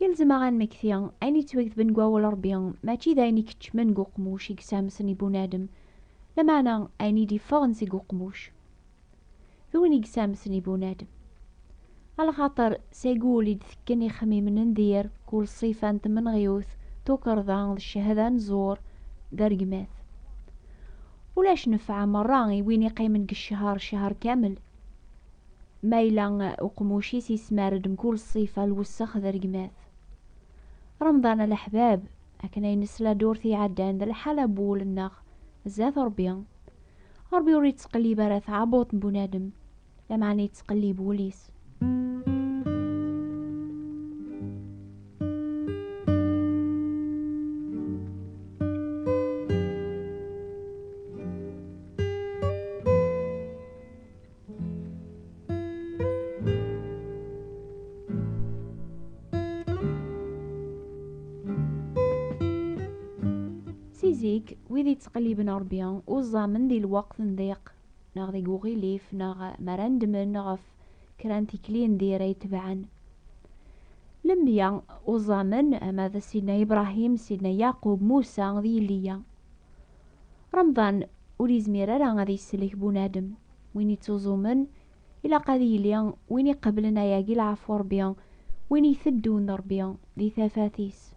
Yelzem-aɣ ad nmekti ayen yettwagtben deg wawal Rebbi, mačči d ayen ikeččmen deg uqmuc i yessamsen i bunadem, lameɛna ayen i d-iffɣen seg uqmuc d win i yessamsen i bunadem. A lxaṭer seg wul i d-tekken ixemmimen n dir, kul ṣṣifa n tmenɣiwt, tukerḍa d ccehda n ẓẓur, d aregmat. Ulac nnfeɛ merra i win iqqimen deg cceher cceher kamel. Ma yella uqmuc-is yesmar-d mkul ṣṣifa, lwessex d rregmat. Remḍan a leḥbab, akken ay nesla ddurt iɛeddan d lḥala n wul-nneɣ zdat Ṛebbi. Ṛebbi ur yettqellib ara taɛebbuḍt n bunadem, lameɛna yettqellib wul-is. Si zik, wid yettqelliben Ṛebbi uẓamen di lweqt n diq neɣ deg uɣilif neɣ mi ara nedmen ɣef kra n tikli n dir ay tebɛen. Lemya uẓamen ama d Sidna Ibrahim, Sidna Yaqub, Musa d Yiliya. Remḍan ur yezmir ara ad yesselek bunadem, win ittuẓumen ilaq ad yili win iqeblen ayagi lɛafu Rebbi, win iteddun d Rebbi di tafat-is.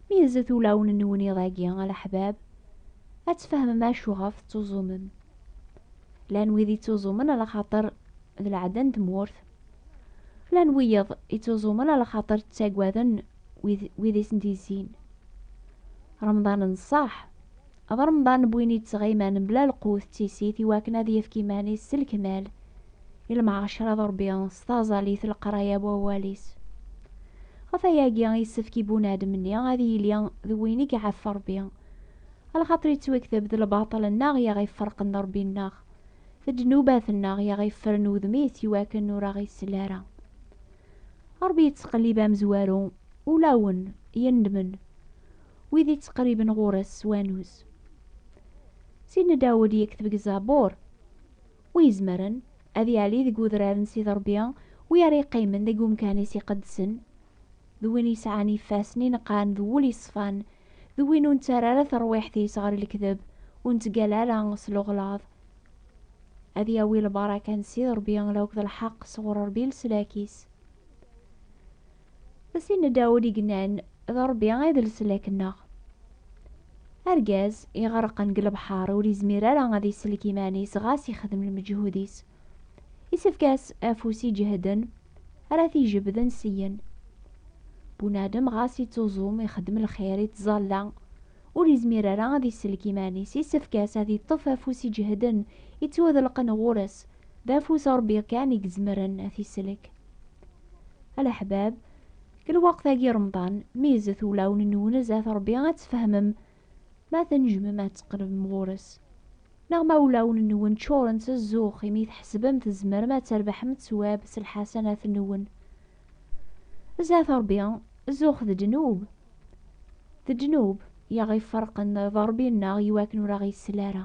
Mi yezzet ulawen-nwen iḍ-agi a leḥbab, ad tfehmem acuɣef tettuẓumem. Llan wid ittuẓumen ala xaṭer d lɛada n tmurt. Llan wiyeḍ ittuẓumen a lxaṭer ttagaden wid i sen-d-yezzin. Remḍan n ṣṣeḥ, d remḍan n win yettɣiman mebla lqut d tissit i wakken ad yefk iman-is s lekmal i lmɛacara d Rebbi s taẓallit d leqraya n wawal-is. Ɣef wayagi yessefk i bunadem-nni ad yili d win i iɛef Rebbi, a lxaṭer yettwekteb d lbaṭel-nneɣ i aɣ-iferqen d Rebbi-nneɣ. ddnubat-nneɣ i aɣ-iffren udem-is i wakken ur aɣ-isell ara. Ṛebbi yettqellib amezwaru, ulawen yendmen wid ittqerriben ɣur-s s wanuz. Sidna Dawed yekteb deg Zabur, Wi izemren ad yali deg udrar n Sidi Ṛebbi, wi ara yeqqimen deg umkan-is iqedsen? d win yesɛan ifassen ineqqan d wul yeṣfan, d win ur nettarra ara tarwiḥt-is ɣer lekdeb, ur nettgalla ara s lɣelad. Ad yawi lbaraka n Ssid Ṛebbi akked lḥeqq sɣur Ṛebbi leslak-is. D Sidna Dawed i yennan, D Ṛebbi ay d leslak-nneɣ. Argaz iɣerqen deg lebḥeṛ ur yezmir ara ad isellek iman-is ɣas ixdem lmeǧhud-is. Isefk-as afus iǧehden ara t-ijebden syen. Bunadem ɣas ittuẓum ixeddem lxir ittẓalla ur izmir ara ad isellek iman-is isefk-as ad iṭṭef afus iǧehden ittwadelqen ɣur-s d afus n Rebbi kan i izemren ad t-isellek. A leḥbab, deg lweqt-agi Remḍan, meyyzet ulawen-nwen zdat Rebbi ad tfehmem Ma tnejjmem ad tqerbem ɣur-s, neɣ ma ulawen-nwen ččuren s zzux imi tḥesbem tzemrem ad trebḥem ttwab s lḥasanat-nwen. Zdat Ṛebbi, zzux d ddnub. D ddnub i aɣ-iferqen d Ṛebbi-nneɣ i wakken ur aɣ-isel ara.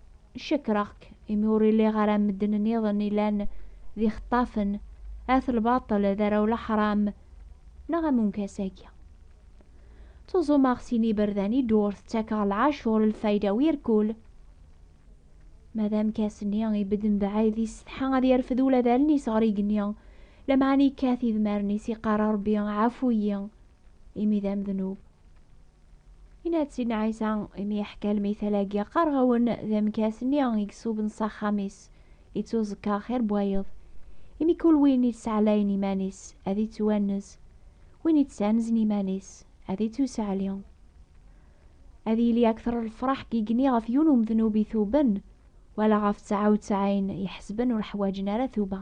Cekreɣ-k imi ur iliɣ ara am medden nniḍen ilan d ixeṭṭafen, at lbaṭel, d arraw leḥram, neɣ am umkas-agi. Ttuẓumeɣ sin iberdan i ddurt, ttakeɣ lɛacur, lfayda u irkul. Ma d amkas-nni ibedd mebɛid, yessetḥa ad yerfed ula d allen-is ɣer igenni, lameɛna yekkat idmaren-is, yeqqar a Rebbi ɛafu-yi, imi d amednub. Yenna-d Sidna Ɛisa imi yeḥka lmithal-agi, qqareɣ-awen d amekkas-nni i isuben s axxam-is, ittuẓekka xir n wayeḍ. Imi kul win ittsaɛlayen iman-is, ad ittwannez, win ittsanzen iman-is, ad ittusaɛli. Ad yili akter n lefraḥ n yigenni ɣef yiwen umednub ituben, wala ɣef tteɛa utteɛin iḥesben ur ḥwaǧen ara tuba.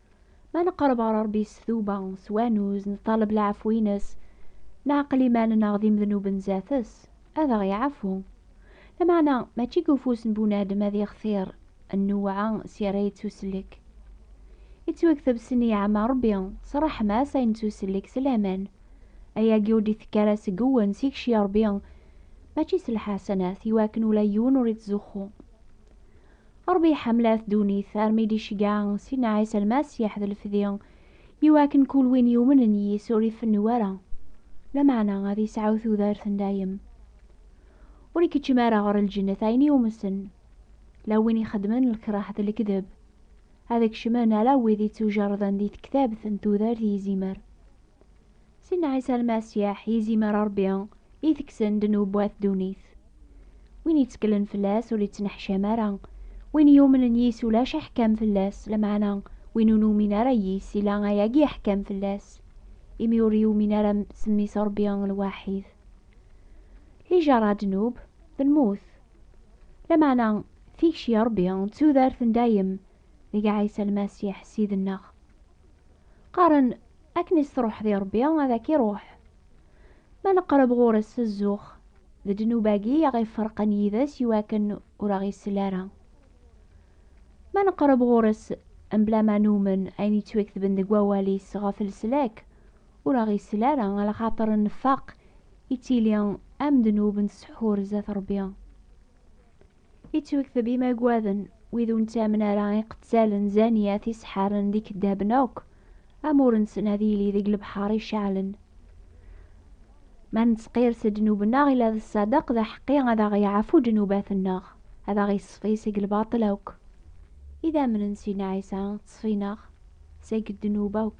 Ma neqreb ɣer Ṛebbi s tuba, s wanuz, neṭṭaleb lɛefw-ines, neɛqel iman-nneɣ d imednuben zdat-s, ad aɣ-iɛefwu. Lameɛna, mačči deg ufus n bunadem ad ixtir nnewɛa s yerra yettusellek. Yettwekteb s nneyɛa ma Ṛebbi, s ṛṛeḥma-s ay nettusellek s laman. Ayagi ur d-itekk ara seg uwen s ikci Ṛebbi, mačči s lḥasanat, iwakken ula yiwen ur ittzuxxu. Ṛebbi iḥemmel-at ddunit armi i d-iceggeɛ Sidna Ɛisa Lmasiḥ d lefdi i wakken kul win yumnen yis ur ifennu ara, lameɛna ad yesɛu tudert n dayem. Ur ikeččem ara ɣer lǧennet ayen yumsen, la win ixeddmen lkreh d lekdeb, ad kecmen ala wid ittujerrden di tektabt n tudert i izimer. Sinna Ɛisa Lmasiḥ yizimer a Ṛebbi i teksen ddnub at ddunit. Win yetteklen fell-as ur yettneḥcam ara, win yumnen yis ulac aḥkam fell-as, lameɛna win ur numin ara yis ila ayagi aḥkam fell-as, imi ur yumin ara s mmi-s Ṛebbi lwaḥid. Lijaṛa a ddnub, d lmut. Lameɛna tikci a Ṛebbi d tudert n dayem deg Ɛisa Lmasiḥ Ssid-nneɣ. Qqaren, akken i s-truḥ di Rebbi, ad ak-iruḥ. Ma neqreb ɣur-s s zzux, d ddnub-agi i aɣ-iferqen yid-s i wakken ur aɣ-isell ara. Ma neqreb ɣur-s mebla ma numen ayen yettwaktben deg wawal-is ɣef leslak, ur aɣ-isell ara, ala xaṭer nfaq, yettili am ddnub n tseḥḥur zdat Rebbi. Ittwekteb imagwaden, wid ur nettamen ara, iqettalen, zaniyat, iseḥaren d ikeddaben akk, amur-nsen ad yili deg lebḥer iceɛlen. Ma nettqirs ddnub-nneɣ, ila d ṣṣadeq, d aḥeqqi ad aɣ-yeɛfu ddnubat-nneɣ, ad aɣ-iṣfi seg lbaṭel akk. Idammen n Sina Ɛisa ttṣfin-aɣ seg ddnub akk.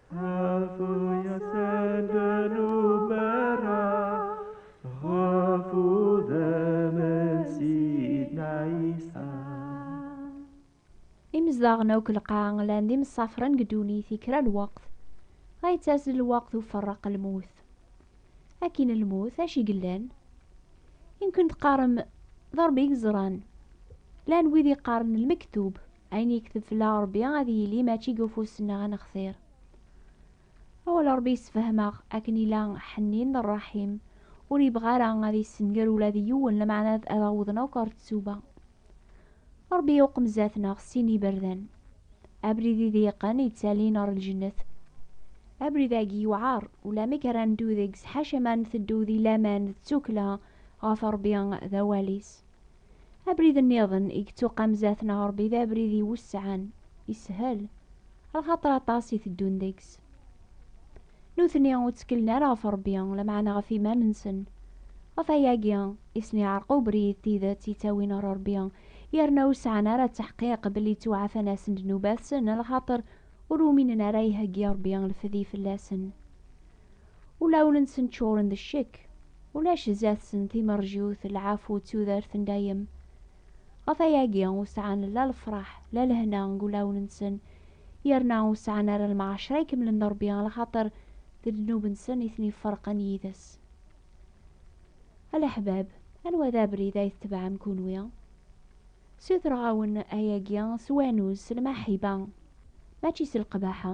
ɣef uyasen d nubara ɣef udem n sidna isa imezdaɣen akk lqaɛa llan d imsafren deg ddunit i kra n lweqt ay yettazzel lweqt uferreq lmut akin lmut acu i yellan yemkin teqqarem d rebbi i yeẓran llan wid yeqqaren lmektub Ayen yekteb fell-aɣ Ṛebbi ad yili mačči deg ufus-nneɣ ad nextir. Awal Ṛebbi yessefhem-aɣ akken yella ḥennin d ṛṛaḥim, ur yebɣi ara ad yessenger ula d yiwen, lameɛna ad awḍen akk ɣer ttuba. Ṛebbi yuqem zdat-neɣ sin n yiberdan, abrid iḍyiqen yettalin ɣer lǧennet. Abrid-agi yewɛeṛ, ulamek ara neddu deg-s, ḥaca ma nteddu di laman d tukkla ɣef Ṛebbi d awal-is. Abrid nniḍen i yettuqam zdat n Ṛebbi d abrid iwesɛen, ishel, lxaṭer aṭas i teddun deg-s. Nutni ur tteklen ara ɣef Ṛebbi, lameɛna ɣef iman-nsen. Ɣef wayagi i sen-iɛreq ubrid d tidet yettawin ɣer Ṛebbi, yerna ur sɛan ara ttaḥqiq belli ttuɛfan-asen-d nnubat-sen, lxaṭer ur uminen ara iheggi Ṛebbi lefdi fell-asen. Ulawen-nsen ččuren d ccek, ulac zdat-sen timerjut, lɛafu d tudert n dayem. Ɣef ayagi ur sɛan la lefraḥ la lehna deg ulawen-nsen, yerna ur sɛan ara lmɛacra ikemlen n Rebbi lxaṭer d ddnub-nsen i ten-iferqen yid-s. A leḥbab, anwa d abrid ay tetbeɛem kunwi? Ssutreɣ-awen ayagi s wanuz, s lmaḥiba, mačči s lqbaḥa.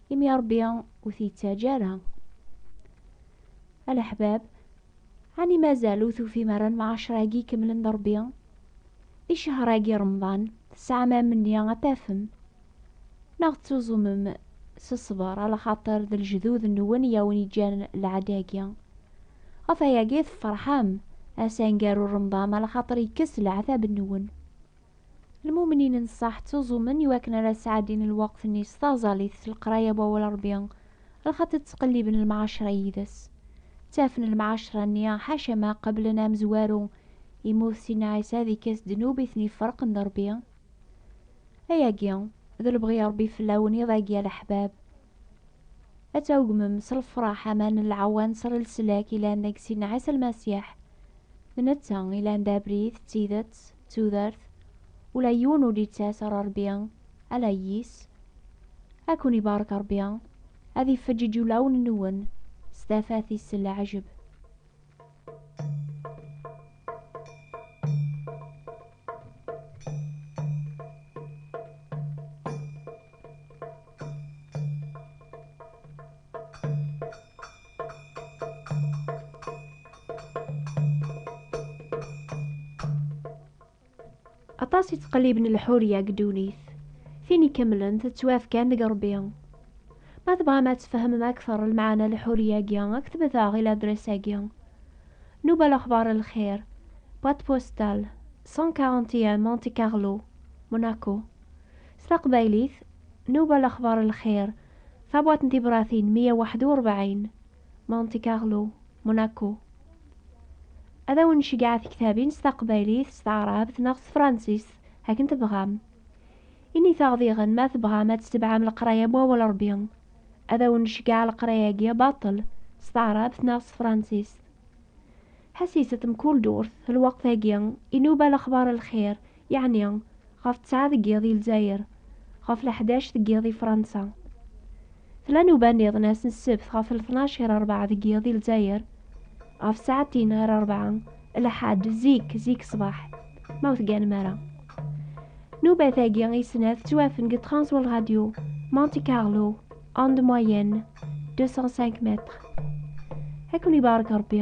imi Ṛebbi ur t-yettaǧǧa ara. A leḥbab, ɛni mazal ur tufim ara lemɛaceṛ-agi ikemlen d Ṛebbi? Di ccehr-agi Remḍan, tesɛam amenni ad tafem, neɣ tettuẓumem s ṣṣber, alaxaṭer d lejdud-nwen i awen-iǧǧan lɛaḍ-agi. Ɣef wayagi tefṛeḥem, ass aneggaru n Remḍan, alaxaṭer yekkes leɛtab-nwen. Lmumnin n ṣṣeḥ ttuẓumen i wakken ara sɛeddin lweqt-nni s taẓallit s leqraya n Wawal Ṛebbi, lxaṭi ttqelliben lemɛaceṛa yid-s. Ttafen lemɛaceṛa-nni, ḥaca ma qeblen amezwaru, yemmut Sidna Ɛisa ad ikkes ddnub i ten-iferqen d Ṛebbi. Ayagi, d lebɣi n Ṛebbi fell-awen iḍ-agi a leḥbab. Ad tɛuggmem s lefṛaḥ aman n lɛewwan s rlslak yellan deg Sidna Ɛisa Lmasiḥ. D netta i yellan d abrid, d tidet, d tudert, ula yiwen ur d-yettas ɣer Rebbi, ala yis. Ad ken-ibarek Rebbi, ad ifeǧǧ iǧulawen-nwen s tafat-is s leɛjeb. aṭas i ttqelliben lḥuriya deg ddunit tin ikemlen tettwafkan deg rebbi ma tebɣam ad tfehmem akteṛ lmeɛna n lḥuriya-agi aktbet aɣ i ladres-agi Nuba Lexbar Lxir boîte postale 141 Monte Carlo Monaco s taqbaylit Nuba Lexbar Lxir Tabewwaṭ n tibṛatin meyya u waḥed u rebɛin, Monte Carlo, Monaco. Ad awen-nceggeɛ tektabin s taqbaylit, s taɛrabt neɣ s tefransist, akken tebɣam. Init-aɣ diɣen ma tebɣam ad tetebɛem leqraya n Wawal n Ṛebbi. Ad awen-nceggeɛ leqraya-agi baṭel, s taɛrabt neɣ s tefransist. Ḥesset mkul durt, lweqt-agi, inuba lexbaṛ n lxir, Yeɛni, ɣef ttɛa deg yiḍ i Lezzayer, ɣef leḥdac deg yiḍ i Fransa. Tella nnuba nniḍen ass n ssebt ɣef lṭnac ɣir rebɛa deg yiḍ i Lezzayer, ɣef tsaɛtin ɣir rebɛa, lḥadd, zik, zik ṣṣbeḥ, ma ur tegganem ara. Nnubat-agi i snat ttwafen deg Transworld Radio, Monte Carlo, onde moyenne, 205 mètres. Ad ken-ibarek Rebbi.